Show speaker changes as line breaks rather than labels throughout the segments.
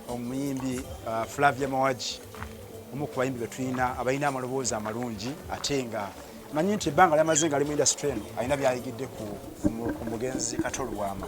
omuyimbi uh, Flavia Mawaji omu ku bayimbi betulina abalina amaloboozi amalungi ate nga manyi nti ebbanga lyamaze nga ali mu industry eno alina byayigidde ku omugenzi Kato Lubwama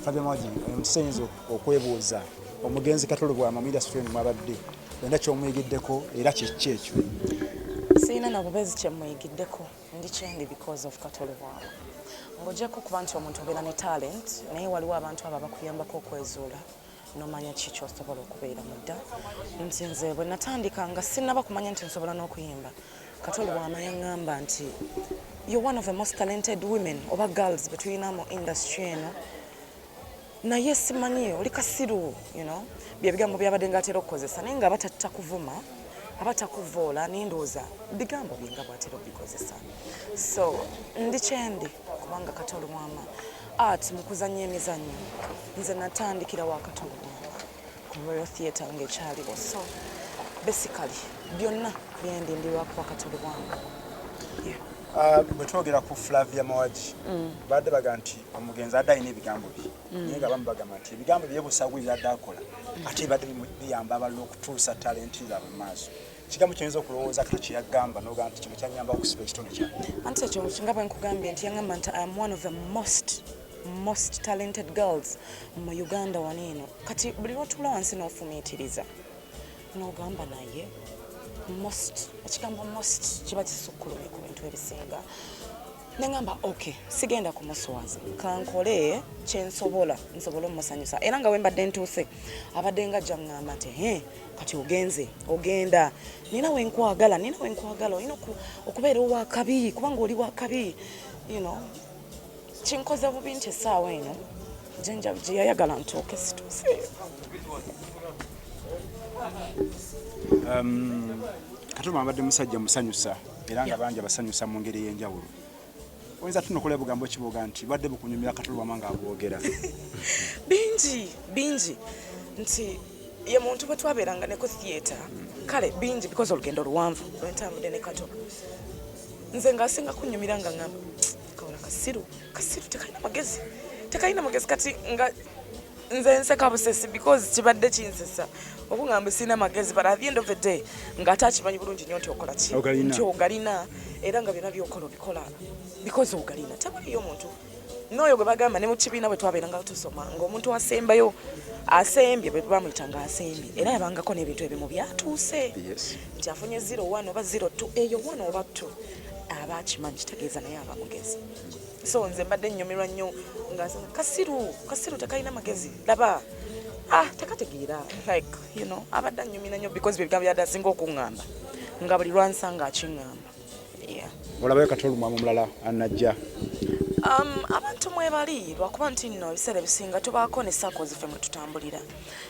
Flavia Mawaji omusayinza okwebuuza omugenzi Kato Lubwama mu industry eno mwabadde olina kyomuyigiddeko era kyekki ekyo sirina
nabubeezi kyemuyigiddeko ndi kyendi because of Kato Lubwama ng'ogyeko okuba nti omuntu obeera ne talent naye waliwo abantu abo abakuyambako okwezuula nomanya ki kyosobola okubeera mudda nti nze bwe natandika nga sinaba kumanya nti nsobola n'okuyimba katoli wamanya ngamba nti you're one of the most talented women oba girls betulina mu industry eno naye simanyi oli kasiru you know byebigambo byabadde nga atera okukozesa naye nga aba takuvuma aba takuvoola nendowooza bigambo byenga bwatera obikozesa so ndi kyendi kubanga katolo wama art mukuzanya emizanyo nze natandikira wa katolo ku royal theatre ngaekyaliwo so basically byonna byendi ndi lwakuba katolo wama
ah, bwe twogera ku flavia mawagi mm. badde baga nti omugenzi adde alina ebigambo bye mm. naye nga bamu bagamba nti ebigambo byebusagu byadde akola mm. ate bibadde biyamba abalala okutuusa talenti zaabwe mu maaso kigambo kyoyinza okulowooza kati kyeyagamba nogamba nti kino kyanyamba okusiba ekitundu kya anti ekyo nga bwe
nkugambye nti yangamba nti am one of the most most talented girls mu uganda wano eno kati buli lwotuula wansi n'ofumiitiriza nogamba naye most ekigambo most kiba kisukkulumye ku bintu ebisinga nengamba ok sigenda kumuswaza kankole kyensobola nsobola omusanyusa era nga wembadde ntuuse abadde nga jangamba ti he kati ogenze ogenda nina wenkwagala nina wenkwagala olina okubeera owakabi kubanga oli wakabi you know kinkoze bubi nti esaawa eno jenja gyeyayagala ntuuke situuse
um, katuma abadde musajja musanyusa era nga bangi abasanyusa mu ngeri ey'enjawulo oyinza tunokola ebugambo kiboga nti bwadde bukunyumira katulubama nga abwogera bingi
bingi nti ye muntu bwe twabeeranga ne ku theatre kale bingi bikoze olugendo luwanvu lwentambudde ne kato nze ng'asinga kunyumira nga ngamba kawona kasiru kasiru tekalina magezi tekalina magezi kati nga nze nseka busesi because kibadde kinsesa okungamba sirina magezi but at the end of the day nga ate akimanyi bulungi nnyo nti okola ki nti ogalina era nga byona byokola obikola because ogalina tewaliyo omuntu n'oyo gwe bagamba ne mu kibiina bwe twabeeranga tusoma ng'omuntu asembayo asembye bwe bamuyita nga asembye era yabangako n'ebintu ebimu byatuuse nti afunye zero one oba zero two eyo one oba two aba akimanyi kitegeeza naye aba mugezi so nze mbadde nnyumirwa nnyo nga kasiru kasiru tekalina magezi laba ah tekategeera like you know abadde annyumira nnyo because bye bigambo byadde asinga okuŋŋamba nga buli lwansanga akiŋŋamba yeah
olabayo kati olumwamu omulala anajja um,
abantu mwebali lwakuba nti nno ebiseera ebisinga tubaako ne saako zife mwe tutambulira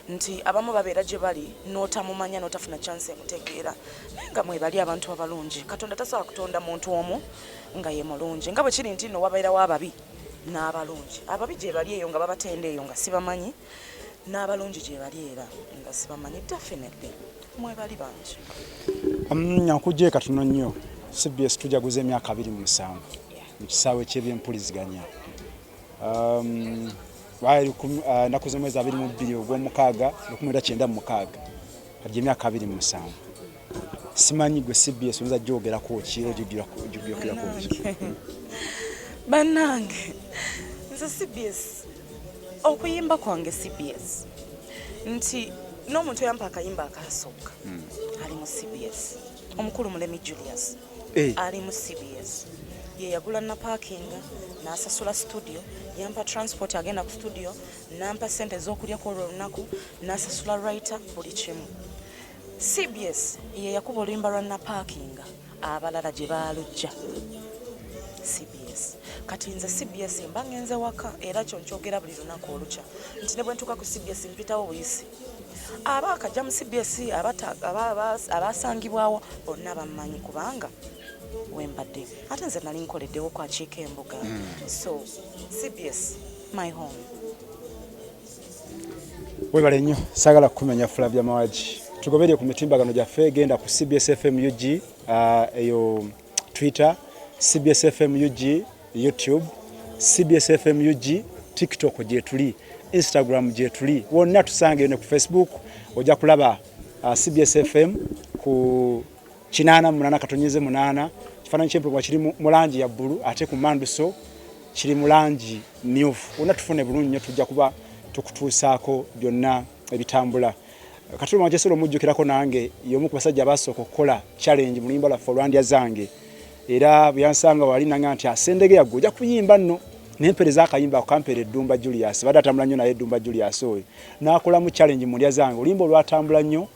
nti abamu babeera gye bali n'otamumanya n'otafuna chance emutegeera naye nga mwebali abantu abalungi katonda tasobola kutonda muntu omu nga ye mulungi nga bwe kiri nti nno wabeerawo ababi n'abalungi. Ababi gye bali eyo nga babatenda eyo nga sibamanyi, n'abalungi gye bali era nga sibamanyi. Definitely mwebali bangi. Mm,
Nkujje katono nnyo. CBS tujaguza emyaka abiri mu musanvu mu kisaawe ky'ebyempuliziganya. Um, uh, naku z'omwezi abiri mu bbiri ogw'omukaaga lukumi lwa kyenda mu mukaaga. Kati emyaka abiri mu musanvu. simanyi gwe cbs oyinza gyogerako ki ojogerako bannange
nze cbs okuyimba kwange cbs nti n'omuntu eyampa akayimba akasooka hmm. ali mu cbs omukulu mulemi julius eh. ali mu cbs yeyagula napakinga nasasula studio yampa transport agenda ku studio nampa sente ezokulyako olwo olunaku nasasula writer buli kimu cbs ye yakuba oluyimba lwa napaakinga abalala gye baalujja cbs kati nze cbs mba ngenze waka era kyo nkyogera buli lunaku olukya nti ne bwe ntuuka ku cbs mpitawo buyisi aba akajja mu cbs abaasangibwawo bonna bammanyi kubanga wembadde ate nze nali nkoleddewo kwakiika embuga hmm. so cbs my home
webale nnyo sagala kukumenya Flavia Mawagi tugoberere ku mitimbagano gyaffe genda ku cbsfm ug uh, eyo twitter cbsfm ug youtube cbsfm ug tiktok gyetuli instagram gyetuli wonna tusangeyo ne ku facebook ojja kulaba uh, cbsfm ku kinaana mu munaana katonyeze munaana kifaananyi ky'empologoma kiri mu langi ya bbulu ate ku manduso kiri mu langi myufu wonna tufune bulungi nnyo tujja kuba tukutuusaako byonna ebitambula kati lwama kyesobola omujjukirako nange y'omu ku basajja abaasooka okukola challenge mu luyimba lwaffe olwandya zange era bwe yansanga wali nanga nti asendege yaggwe ojja kuyimba nno nempereza akayimba akampeera eddumba julius badde atambula nnyo naye eddumba julius oyo n'akolamu challenge mu ndya zange oluyimba olwatambula nnyo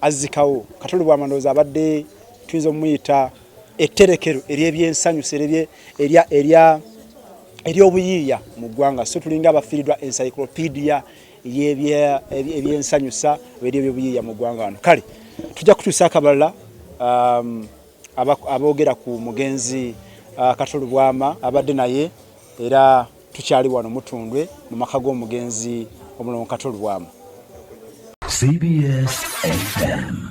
azzikawo Kato Lubwama ndowooza abadde tuyinza omuyita etterekero ery'ebyensanyu ery'obuyiiya mu ggwanga so tulinga abafiiridwa encyclopedia ebyensanyusa ebyo ebyobuyiiya mu ggwanga wano kale tujja kutuusa akabalala um, aboogera ku mugenzi uh, Kato Lubwama abadde naye era Tukyali wano Mutundwe mu maka g'omugenzi Omulongo Kato Lubwama. CBS FM.